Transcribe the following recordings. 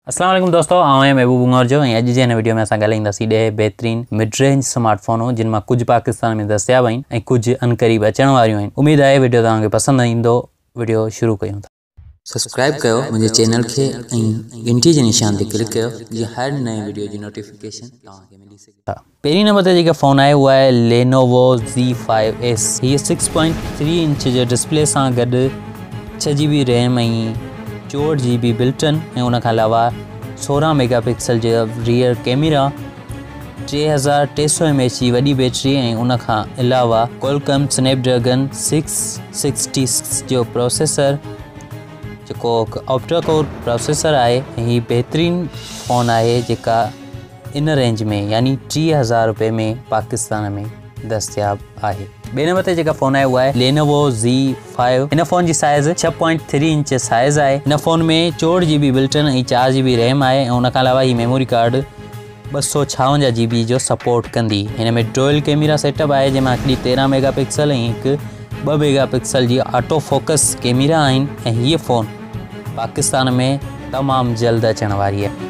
السلام عليڪم دوستو آئون آهيان محبوب عمر جو ۽ اڄ جي هن ويڊيو ۾ اسان ڳالهائينداسين ڏهه بهترين مڊ رينج سمارٽ فونون جن مان ڪجهه پاڪستان ۾ دستياب آهن ۽ ڪجهه انقريب اچڻ واريون آهن اميد آهي ويڊيو توهان کي پسند ايندو ويڊيو شروع ڪيون ٿا سبسڪرائب ڪيو منهنجي چينل کي ۽ گهنٽي جي نشان تي ڪلڪ ڪيو جيئن هر نئين وڊيو جي نوٽيفڪيشن توهان کي ملي سگهي. پهرين نمبر تي جيڪا فون آهي اها آهي لينووو زي فائيو ايس هيء سڪس پوائنٽ ٿري انچ جي ڊسپلي سان گڏ ڇهه جي بي ريم ۽ چوهٺ جي بي بلٽن ۽ ان کان علاوه سورهن ميگا پڪسل جي ريئر ڪيميرا ٽي هزار ٽي سؤ ايم ايچ جي وڏي بيٽري ۽ ان کان علاوه Qualcomm snapdragon six sixty six جو پروسيسر جيڪو آپٽا ڪور پروسيسر آهي ۽ هي بهترين فون آهي جيڪا ان رينج ۾ يعني ٽي هزار روپئي ۾ پاڪستان ۾ دستياب آهي. ٻئي نمبر تي جيڪا فون آهي اها آهي لينوو زي فائيو هن فون جي سائيز ڇهه پوائنٽ ٿري انچ سائيز آهي هن فون ۾ چوهٺ جي بي بلٽن ۽ چار جي بي ريم آهي ۽ ان کان علاوه هي ميموري ڪارڊ ٻه سؤ ڇاونجاهه جي بي جو سپورٽ ڪندي هن ۾ ڊوئل ڪيميرا سيٽ اپ آهي جنهن مان هڪڙي تيرهن ميگا پڪسل ۽ هڪ ٻه ميگا پڪسل جي آٽو فوڪس ڪيميرا آهن ۽ هيء فون پاڪستان ۾ تمام جلد اچڻ واري آهي.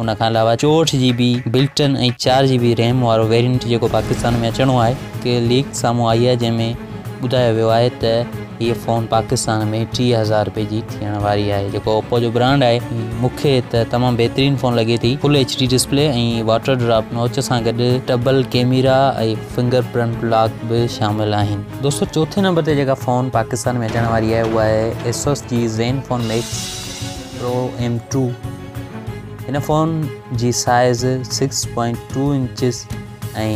ان کان علاوه چوهٺ جي بي بلٽن ۽ چار جي بي ريم وارو ويرينٽ جيڪو پاڪستان ۾ اچڻو آهي هڪ ليڪ سامهون آئي آهي جنهن ۾ ٻڌايو ويو آهي ته هيء فون پاڪستان ۾ ٽيهه هزار رپئي جي ٿيڻ واري آهي جيڪو اوپو جو برانڊ آهي مون کي ته تمام بهترين فون لڳي ٿي full H D display ۽ water drop notch سان گڏ double camera ۽ finger print lock به شامل آهن دوستو چوٿين نمبر تي جيڪا فون پاڪستان ۾ اچڻ واري آهي اها آهي ايسوس جي Zen phone Max Pro M two هن فون جي size six point two inches ۽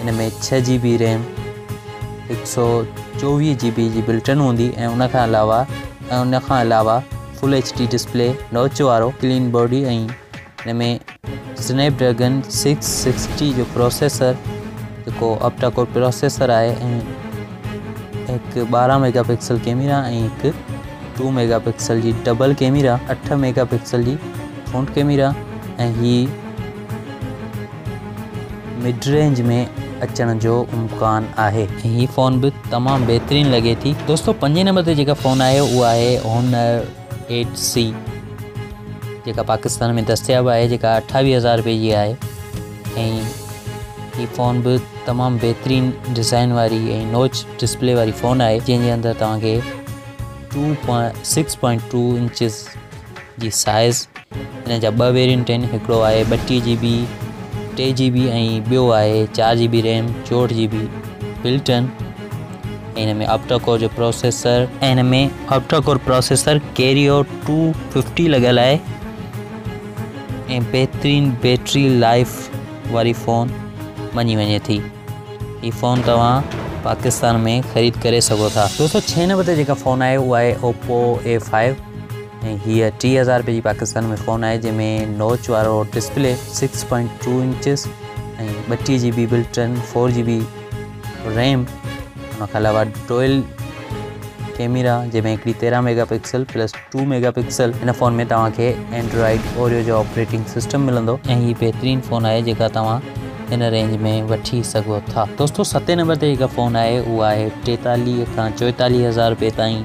ان ۾ ڇهه جي بي ريم هڪ سو چوويهه جي بي جي بلٽن هوندي ۽ ان کان علاوه ۽ ان کان علاوه full H D display notch وارو ڪلين باڊي ۽ ان ۾ سنيپ ڊريگن سڪس سڪسٽي جو پروسيسر جيڪو آپٽا ڪور پروسيسر آهي ۽ هڪ ٻارهن ميگا پڪسل ڪيميرا ۽ هڪ ٽو ميگا پڪسل جي ڊبل ڪيميرا اٺ ميگا پڪسل جي فرونٽ ڪيميرا ۽ هي مڊ رينج ۾ اچڻ جو امڪان آهي هي فون به تمام بهترين لڳي ٿي دوستو پنجين نمبر تي جيڪا فون آهي اها آهي هونر ايٽ سي جيڪا پاڪستان ۾ دستياب آهي جيڪا اٺاويهه هزار روپئي جي آهي ۽ هي فون به تمام بهترين ڊيزائن واري ۽ نوچ ڊسپلي واري فون آهي جنهن جي اندر توهان کي two point six point two inches جي سائز ان جا ٻه ويرينٽ آهن هڪڙو آهي ٻٽيهه جي بي ٽي جي بي ۽ ٻيو آهي چار جي بي ريم چوهٺ جي بي بلٽن ان ۾ آپٽاڪور جو پروسيسر ان ۾ octa core processor Kryo two fifty لڳل آهي ۽ بهترين بيٽري لائف واري فون مڃي وڃي ٿي هي فون توهان پاڪستان ۾ خريد ڪري سگهو ٿا دو سو ڇهه نمبر تي جيڪا فون آهي اها آهي اوپو اي فائيو ۽ هيء ٽي هزار رپئي جي پاڪستان ۾ فون آهي جنهن ۾ نوچ وارو display six point two inches ۽ ٻٽيهه G B built in four G B RAM ان کان علاوه ڊوئل ڪيميرا جنهن ۾ هڪڙي تيرهن mega pixel plus two mega pixel هن فون ۾ توهان کي اينڊرائڊ اوريو جو آپريٽنگ سسٽم ملندو ۽ هي بهترين فون آهي جيڪا توهان هن رينج ۾ وٺي سگهو ٿا دوستو ستين نمبر تي جيڪا فون آهي اها آهي ٽيتاليهه کان چوئيتاليهه هزار رپئي تائين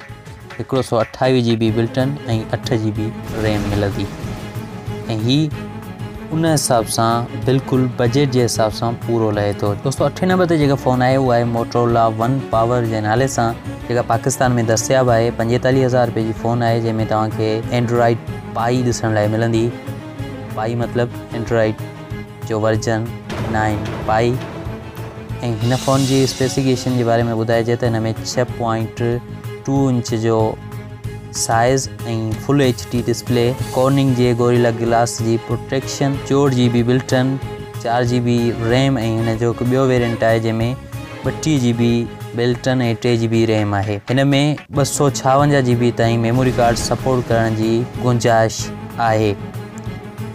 هڪڙو سؤ اٺاويهه جي بي بلٽن ۽ اٺ جي بي ريم ملندي ۽ هي ان حساب سان بلڪل بجيٽ جي حساب سان پورو لهي ٿو دو سو اٺ نمبر تي جيڪا فون آهي اها آهي موٽرولا ون پاور جي نالي سان جيڪا پاڪستان ۾ دستياب آهي پنجيتاليهه هزار روپئي جي فون آهي جنهن ۾ توهان کي اينڊرائڊ پائي ڏسڻ لاء ملندي پائي مطلب اينڊرائڊ جو ورجن نائن پائي ۽ هن فون جي اسپيسيڪيشن جي باري ۾ ٻڌائجي ته هن ۾ ڇهه پوائنٽ ٽو انچ جو size ۽ full H D display Corning جي گوريلا گلاس جي پروٽيڪشن چوهٺ جي بي بلٽن چار جي بي ريم ۽ هن جو هڪ ٻيو ويرينٽ آهي جنهن ۾ ٻٽيهه جي بي بلٽن ۽ ٽي جي بي ريم آهي هن ۾ ٻه سؤ ڇاونجاهه جي بي تائين ميموري ڪارڊ سپورٽ ڪرڻ جي گنجائش آهي.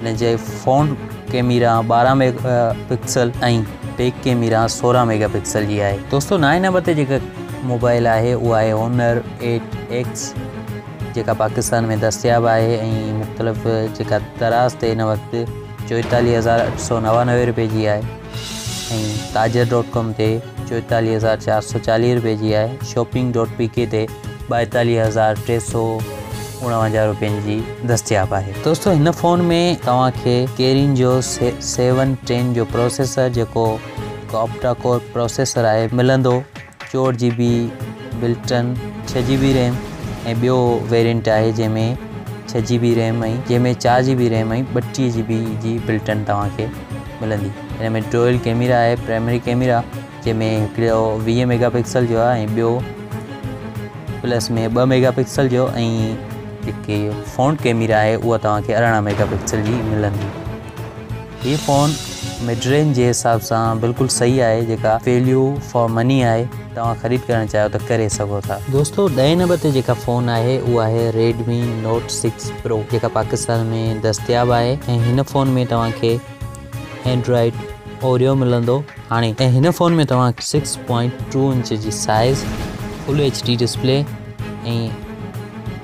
ان جي فرنٽ ڪيميرا ٻارهن ميگا پڪسل ۽ بيڪ ڪيميرا سورهن ميگا پڪسل جي آهي دوستو نائين نمبر تي جيڪا موبائل آهي اها آهي هونر ايٽ ايڪس جيڪا پاڪستان ۾ دستياب آهي ۽ مختلف جيڪا دراز تي هن وقت چوئيتاليهه هزار اٺ سؤ نوانوي روپئي جي آهي ۽ تاجر ڊاٽ ڪام تي چوئيتاليهه هزار چار سؤ چاليهه روپئي جي آهي شاپنگ ڈاٽ پي ڪي تي ٻائيتاليهه هزار ٽي سؤ اڻاونجاهه روپين جي دستياب آهي دوستو هن فون ۾ توهان کي ڪيرين جو سيون ٽين جو پروسيسر جيڪو هڪ آپٽا ڪور پروسيسر آهي ملندو چوهٺ جي بي بلٽن ڇهه جي بي ريم ۽ ٻيو ويرينٽ آهي جنهن ۾ ڇهه جي بي ريم ۽ جنهن ۾ چار جي بي ريم ۽ ٻٽيهه جي بي جي بلٽن توهان کي ملندي هن ۾ ڊوئل ڪيميرا آهي پرائمري ڪيميرا جنهن ۾ هڪڙو ويهه ميگا پڪسل جو آهي ۽ ٻيو پلس ۾ ٻه ميگا پڪسل جو ۽ جيڪي فرنٽ ڪيميرا آهي اها توهان کي ارڙهن ميگا پڪسل جي ملندي هي فون مڊ رينج جي حساب سان بلڪل صحيح آهي جيڪا ويليو فار مني آهي توهان خريد ڪرڻ چاهيو ته ڪري سگهو ٿا دوستو ڏهين نمبر تي جيڪا فون آهي اها آهي ريڊمي نوٽ سڪس پرو جيڪا پاڪستان ۾ دستياب آهي ۽ هن فون ۾ توهان کي اينڊرائڊ اوريو ملندو هاڻي ۽ هن فون ۾ توهان کي سڪس پوائنٽ ٽو انچ جي size full H D display ۽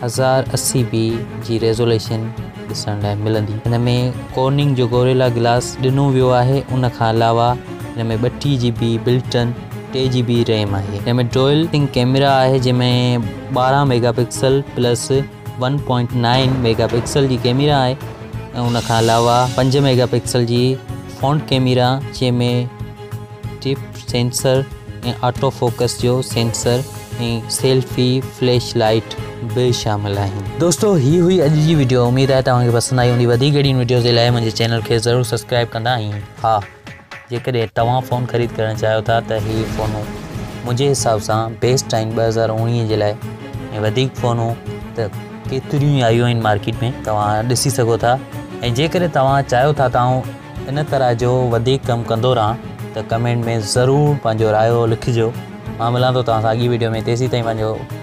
هزار اسي بي جي ريزوليشن ڏسڻ لاء ملندي هن ۾ ڪورننگ جو گوريلا گلاس ڏنو ويو آهي ان کان علاوه هن ۾ ٻٽيهه جي بي بلٽ ان ٽي جي بي ريم آهي هن ۾ ڊوئل ڪيمرا آهي جنهن ۾ ٻارهن mega pixel plus one point nine mega pixel جي ڪيميرا آهي ۽ ان کان علاوه پنج ميگا پڪسل جي فونٽ ڪيميرا جنهن ۾ ٽپ سينسر ۽ آٽو فوڪس جو سينسر ۽ سيلفي فليش لائيٽ به شامل آهن دوستو هي هئي اڄ جي ويڊيو اميد آهي توهان کي پسند آئي هوندي وڌيڪ اهڙين ويڊيوز جي لاء منهنجي چينل کي ضرور سبسڪرائب ڪندا ۽ ها جيڪڏهن توهان فون خريد ڪرڻ چاهيو ٿا ته هي فونون منهنجي حساب سان بيسٽ آهن ٻه هزار اوڻيهه جي لاء ۽ وڌيڪ فونون ته ڪيتريون ئي آيون آهن مارڪيٽ ۾ توهان ڏسي سگهو ٿا ۽ جيڪڏهن توهان چاهيو ٿا ته آئون ان طرح جو وڌيڪ ڪم ڪندو رهان ته ڪمينٽ ۾ ضرور پنهنجو رايو لکجو مان ملان ٿو توهان سان اڳي ويڊيو ۾ تيسي تائين پنهنجو